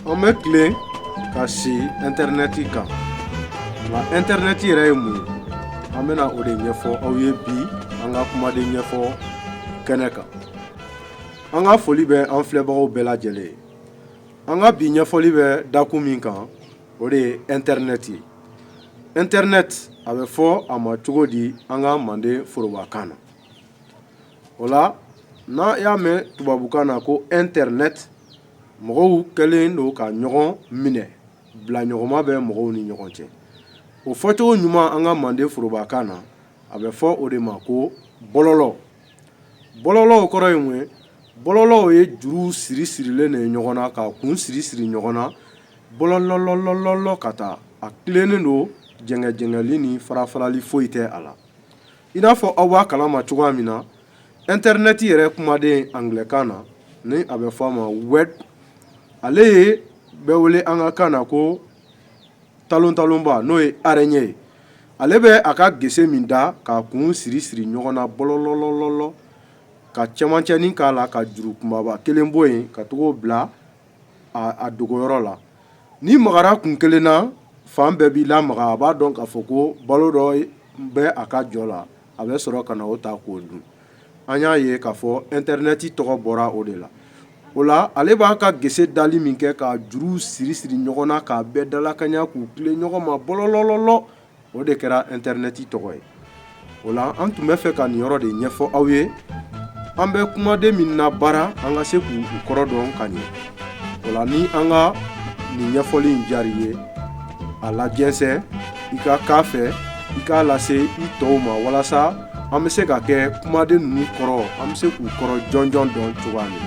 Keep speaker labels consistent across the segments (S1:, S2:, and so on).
S1: an bɛ tilen ka si intɛrɛnɛti kan nka intɛrɛnɛti yɛrɛ ye mun ye an bɛna o de ɲɛfɔ aw ye bi an ka kumaden ɲɛfɔ kɛnɛ kan an ka foli bɛ an filɛbagaw bɛɛ lajɛlen ye an ka bi ɲɛfɔli bɛ dakun min kan o de ye intɛrɛnɛti ye intɛrɛnɛti a bɛ fɔ a ma cogo di an ka manden forobakan na o la n'a y'a mɛn tubabukan na ko intɛrɛnɛti mɔgɔw kɛlen don ka ɲɔgɔn minɛ bila ɲɔgɔnma bɛ mɔgɔw ni ɲɔgɔn cɛ o fɔcogo ɲuman an ka manden forobakan na a bɛ fɔ o de ma ko bɔlɔlɔ bɔlɔlɔ kɔrɔ ye ye bɔlɔlɔ ye juru siri sirilen de ye ɲɔgɔn na k'a kun siri siri ɲɔgɔn na bɔlɔlɔlɔlɔlɔ ka taa a tilennen don jɛngɛjɛngɛli ni fara farali foyi tɛ a la i n'a fɔ aw b'a kalama cogoya min na intɛrɛnɛti yɛrɛ kumaden angilɛkan na ni a bɛ fɔ a ma web ale ye bɛ wele an ka kan na ko talontalonba n'o ye araignée ye ale bɛ a ka gese min da k'a kun siri siri ɲɔgɔn na bɔlɔlɔlɔlɔ ka cɛmancɛnin k'a la ka juru kunbaba kelen bɔ yen ka tag'o bila a dogoyɔrɔ la n'i magara kun kelen na fan bɛɛ b'i lamaga a b'a dɔn k'a fɔ ko balo dɔ bɛ a ka jɔ la a bɛ sɔrɔ ka na o ta k'o dun an y'a ye k'a fɔ intɛrɛnɛti tɔgɔ bɔra o de la o la ale b'a ka gese dali min kɛ ka juru siri siri ɲɔgɔn na k'a bɛɛ dalakaɲa k'u tilen ɲɔgɔn ma bɔlɔlɔlɔ o de kɛra intɛrɛnɛti tɔgɔ ye o la an tun bɛ fɛ ka nin yɔrɔ de ɲɛfɔ aw ye an bɛ kumaden min nabaara an ka se k'u kɔrɔ dɔn ka ɲɛ o la ni an ka nin ɲɛfɔli in diyar'i ye a lajɛnsɛn i ka k'a fɛ i k'a lase i tɔw ma walasa an bɛ se ka kɛ kumaden ninnu kɔrɔ an bɛ se k'u kɔrɔ jɔnjɔn dɔn cogoya min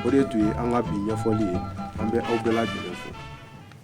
S1: o de tun ye an ka bi ɲɛfɔli ye an bɛ aw bɛɛ lajɛlen fɛ